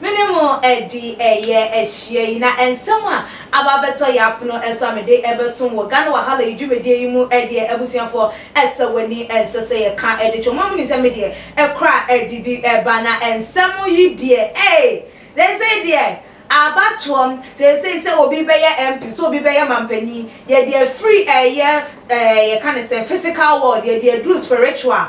Me ne mo adi ɛyɛ ahyia yi na nsɛm a aba abɛtɔ yɛ apono nso a mede bɛsom wɔ Ghana Wahala yi dwumadie yi mu deɛ abusuafoɔ ɛsɛ w'ani ɛnsɛ sɛ yɛ ka de twɛ mo a mo nim sɛ me deɛ ɛkora ɛde bi ba na nsɛm yi deɛ ei seesei deɛ aba toɔm seesei sɛ obi bɛyɛ MP sɛ obi bɛyɛ manpanin yɛde afiri ɛyɛ ɛɛ yɛ ka ne sɛn physical world yɛde aduru spiritual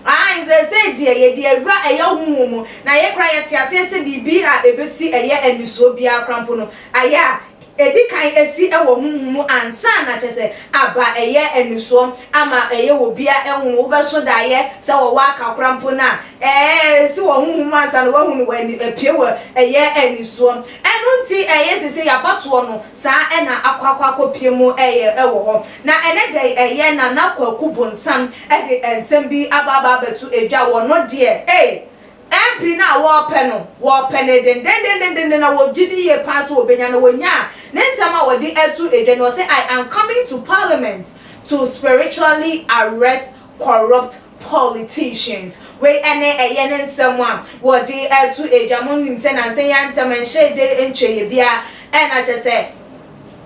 Aane, seesei deɛ yɛde awura ɛyɛ honhom mu, na yei koraa yɛte aseɛ sɛ biribi a ɛbɛsi ɛyɛ anisoɔ biara koraa mpo no, ayɛ a ɛdi kan asi wɔ honhom mu ansa na kyerɛ sɛ aba ɛyɛ anisoɔ ama ɛyɛ wɔ biara ahunu. Wobɛso daeɛ sɛ wɔ w'aka koraa mpo no a, ɛɛ, ɛsi wɔ honhom mu ansa na wahunu wɔ ani, apue wɔ ɛyɛ anisoɔ. Ɛno nti ɛyɛ seesei abatoɔ no, saa ɛna akɔ akɔ akɔ pie mu ɛyɛ ɛwɔ hɔ na ɛnɛ da yi ɛyɛ nana kwaku bonsam ɛde ɛnsɛm bi aba aba abɛto ɛdwa wɔ no deɛ ei MP no a wɔɔpɛ no wɔɔpɛ no den den den den den na wɔ gyidi yie paa sɛ wɔ bɛnya na wɔ nyaa ne nsɛm a wɔde ɛto ɛdwa no ɔse I am coming to parliament to spiritually arrest corrupt politicians. Wei ɛne ɛyɛ ne nsɛm a wɔde ɛto dwa. Mo nim sɛ nansa yi antɛm ɛnhyɛ de ntwa yɛ bia ɛna kyɛ sɛ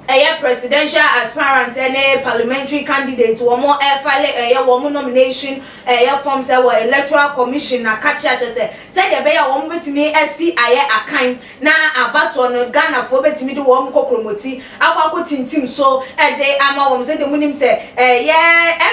ɛyɛ presidential aspirants ɛne parliamentary candidates wɔn ɛfale ɛyɛ wɔn nomination ɛyɛ forms ɛwɔ electoral commission na kakyɛ kyɛ sɛ sɛdeɛ ɛbɛyɛ a wɔn bɛtumi asi ayɛ akan na abatoɔ no Ghanafoɔ bɛtumi de wɔn kɔkrɔmɔti akɔ akɔtintim so de ama wɔn sɛdeɛ monim sɛ ɛyɛ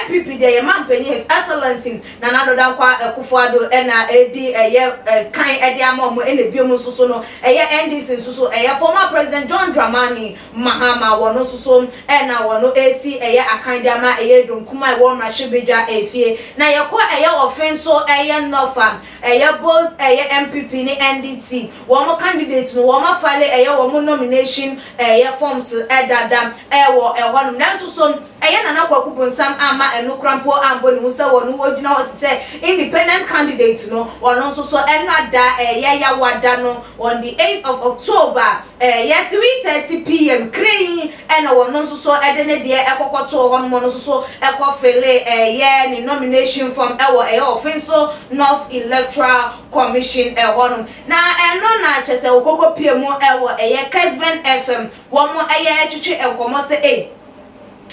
NPP deɛ yɛ manpanyin His Excellency Nana Addo Dankwa Akuffo Addo na ɛredi ɛyɛ kan de ama wɔn ɛna bio mu nso so no ɛyɛ NDC nso so ɛyɛ Former President John Dramani Mahama wɔn nso so na wɔn ɛresi ɛyɛ akan de ama ɛyɛ Donkum a ɛwɔ Mmarahyɛbadwa ɛfie na yɛkɔ ɛyɛ Ɔfin nso ɛyɛ North a Ɛyɛ both ɛyɛ NPP ne NDC wɔn candidate no wɔn afale ɛyɛ wɔn nomination ɛyɛ forms dada ɛwɔ ɛhɔ nom nanso so ɛyɛ Nana Kwaku Bonsam amma ɛno kora mpo ambɔ ne ho sɛ ɔno ɔgyina hɔ sesɛ independent candidate no ɔno nso so ɛno ada ɛyɛ Yawada no on the 8th of October Ɛyɛ three thirty PM krenn na wɔn no nso so de ne deɛ ɛkɔkɔ too hɔ nom no nso so ɛkɔ felee ɛyɛ ne nomination form ɛwɔ ɛyɛ Offinso North Electoral Commission ɛhɔ nom. Na ɛno na kyerɛ sɛ ɔkɔkɔ pie mu ɛwɔ ɛyɛ Kesben FM wɔn ɛyɛ ɛtwetwe nkɔmɔ sɛ ei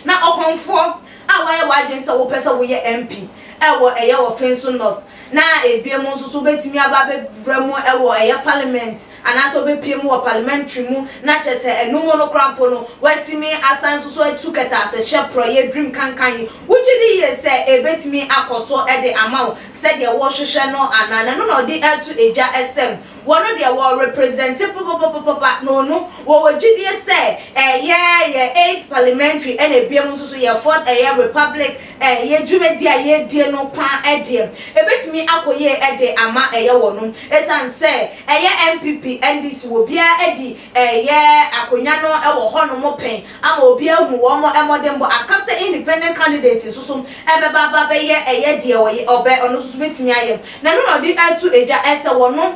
na ɔkɔmfoɔ a wayɛ w'adwene sɛ wopɛ sɛ woyɛ MP ɛwɔ ɛyɛ Offinso North na ebie mu nso so wobɛtumi aba abɛwura mu ɛwɔ ɛyɛ Parliament anaasɛ ɔbɛpue mu wɔ parliamentary mu na kyerɛ sɛ ɛno mu no koraa mpo no watumi asan nso so atu kɛtɛasehyɛ porɔeɛ dream kanka yi, wogye di yie sɛ ɛbɛtumi akɔ so de ama wo sɛdeɛ worehwehwɛ no anaa? Na ɛno na ɔde reto dwa sɛ wɔno deɛ wɔ represente papapapapa na ɔno wɔwɔ gyidie sɛ ɛyɛ yɛ eighth parliamentary ɛna ɛbia mu nso so yɛ fourth ɛyɛ republic Ɛyɛ dwumadi a yɛredie no paa deɛ, ɛbɛtumi akɔ yie de ama ɛyɛ wɔnom. Ɛsiane sɛ ɛyɛ NPP, NDC wɔ biara adi ɛyɛ akonwa no wɔ hɔ nom pɛn ama obi ahunu wɔn mmɔdenbɔ. Aka sɛ independent candidate nso so bɛba aba bɛyɛ ɛyɛ deɛ ɔyɛ ɔbɛ ɔno nso so bɛtumi ayɛ. Nanu na ɔde reto dwa sɛ wɔnom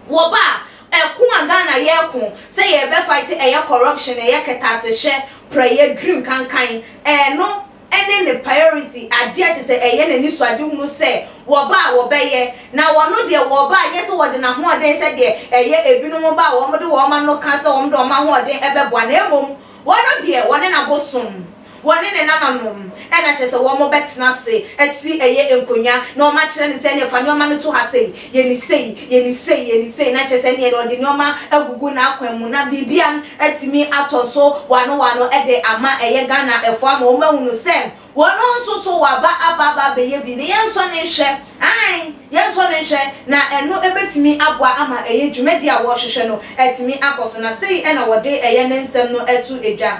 wɔba a, Ɛko a Ghana yɛko sɛ yɛbɛ fight ɛyɛ corruption, ɛyɛ kɛtɛasehwɛ, prɛyɛ, dream kankan, ɛno ɛne ne priority, adeɛ te sɛ ɛyɛ n'anisoadehunu sɛ wɔba a wɔbɛyɛ, na wɔno deɛ wɔba a nyɛ sɛ wɔde n'ahoɔden sɛdeɛ ɛyɛ ebinom ba a wɔde wɔn ano ka sɛ wɔde wɔn ahoɔden ɛbɛboa na mmom wɔno deɛ wɔne n'abosom Wɔne ne nananom, ɛna kyerɛ sɛ wɔn bɛtena ase asi ɛyɛ nkonwa na wɔn akyerɛ no sɛ ɛneɛ fa nneɛma no to ha sei, yɛ no sei, yɛ no sei, yɛ no sei, na kyerɛ sɛ ɛneɛ deɛ ɔde nneɛma agugu n'akwan mu na biribia atumi atɔ so wano wano de ama ɛyɛ Ghana ɛfoɔ ama wɔn ahunu sɛ wɔn nso so waba aba aba abɛyɛ bi na yɛnsɔ no nhwɛ, aane, yɛnsɔ no nhwɛ na ɛno bɛtumi aboa ama ɛyɛ dwumadie a wɔrehwehwɛ no atumi akɔ so na sei na wɔde ɛyɛ ne nsɛm no to dwa.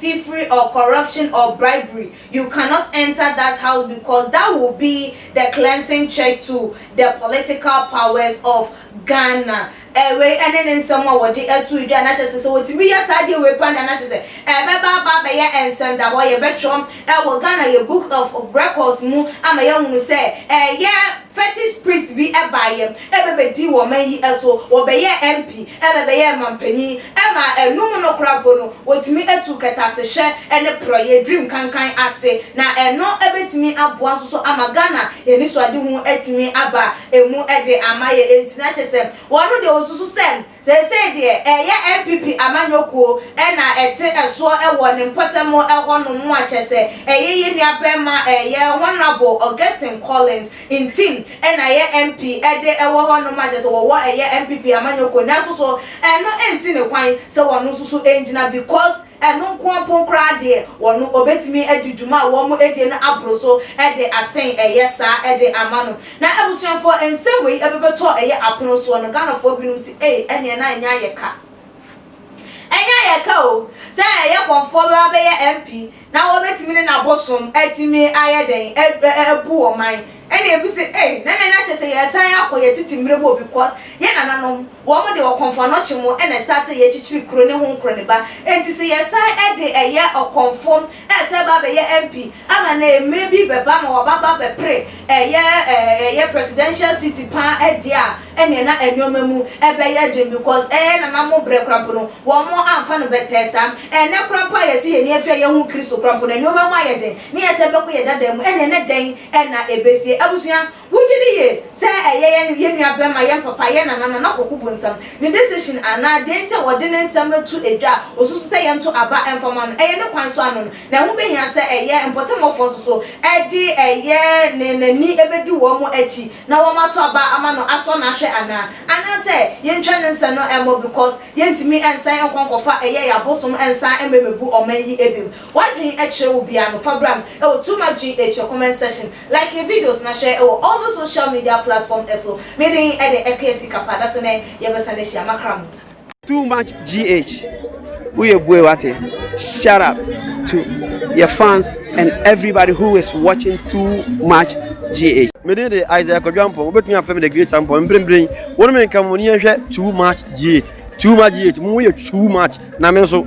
thiefery or corruption or bribery you cannot enter that house because that will be the cleansing check to the political powers of Ghana eh wei ɛne ne nsɛm a wɔde ato dwa na kyɛ sɛ sɛ wɔtumi yɛ saa deɛ wei pa na na kyɛ sɛ ɛbɛba aba abɛyɛ nsɛm da hɔ yɛbɛtwerɛ ɛwɔ Ghana yɛ book of records mu ama yɛahunu sɛ ɛyɛ Fetish priest bi baeɛ bɛbɛdii wɔ ɔman yi so, wɔbɛyɛɛ MP na ɛbɛyɛɛ manpanin ma ɛno mu no koraa mpo no wɔtumi tuu kɛtɛasehyɛ ne porɔeɛ, dream kankan, ase na ɛno bɛtumi aboa nso so ama Ghana anisoadehu atumi aba mu de ama yɛn, ɛnti na kyerɛ sɛ wɔn deɛ wɔsusu sɛ Seesei deɛ ɛyɛ NPP amanyɔ kuo na ɛte soɔ wɔ ne mpɔtam hɔ nom a kyɛsɛ ɛyɛ yɛ nua barima ɛyɛ Honourable Augustine Collins Ntim na ɛyɛ MP de wɔ hɔ nom a kyɛsɛ wɔwɔ ɛyɛ NPP amanyɔ kuo nanso so ɛno nsi ne kwan sɛ ɔno nso so ngyina because Ɛno nko mpo koraa deɛ, wɔn wɔbɛtumi de dwuma a wɔadie no aboro so de asen ɛyɛ saa de ama no. Na abusuafoɔ, nsɛm wei bɛbɛtɔ ɛyɛ apono soɔ no, Ghanafoɔ binom se, Ei, ɛnneɛ na ɛnyɛ ayɛ ka. Ɛnyɛ ayɛ ka o, sɛ ɛyɛ kɔmfoɔ bɛba bɛyɛ MP, na wɔbɛtumi ne n'abosom atumi ayɛ dɛn, abu ɔman. Ɛnna ebi se, Ei, na ɛnneɛ na kyerɛ sɛ yɛresan akɔ yɛn tete mmerɛ mu o, because yɛn nananom, Wɔn de ɔkɔmfoɔ no kye mo na ɛstartee yɛ kyikyiri kuro ne ho nkuro ne ba nti sɛ yɛ san de ɛyɛ ɔkɔmfoɔ ɛsɛ ba bɛyɛ MP ama na ɛmire bi bɛba ma waba ba bɛpere ɛyɛ ɛyɛ presidential seat paa ɛdeɛ a ɛneɛ na ɛnoɔma mu ɛbɛyɛ den because ɛyɛ nana mo brɛ kora mpo no wɔn amfa no bɛtɛɛ saa ɛnɛ kora mpo a yɛse yɛni afie a yɛhu Kristo kora mpo no ɛnoɔma mu ayɛ den ne yɛsɛ bɛkɔ yɛ dada mu ɛneɛ ne dɛn na ɛbɛsie abusua Wogye di yie sɛ ɛyɛ yɛn yɛn nua bɛma, yɛn papa, yɛn nana, nana koko bonsam, ne decision anaa deɛ nti a ɔde ne nsɛm no to edwa a ɔsusu sɛ yɛn to aba ɛmfa ma no, ɛyɛ ne kwan so ano no, na ɛho bɛhia sɛ ɛyɛ mpɔtamufoɔ nso so ɛde ɛyɛ ne n'ani ɛbɛdi wɔn mo akyi na wɔn ato aba ama no asɔ no ahwɛ anaa anaa sɛ yɛntwa ne nsɛ no ɛmmɔ because yɛntumi ɛnsan nkɔ nkɔfa ɛyɛ yɛn abosom ɛnsan ɛmmɛmɛbu ɔman yi ɛbim. Wadwen kyerɛ wo bia no fa bra me wɔ too much gh wɔ comment section like yɛ videos na share wɔ all those social media platform so me de de ɛkɛɛ sika pa dase nɛ yɛ bɛ sane ahyia makra mo. Too much gh woyɛ bue wate shout out to yɛ fans and everybody who is watching too much gh. Me din de Isaiah Kwadwo Ampong wobɛtumi afrɛ me the great Ampong mprempren wo ne me nka mo ani nhwɛ too much gh too much gh mo yɛ too much na me nso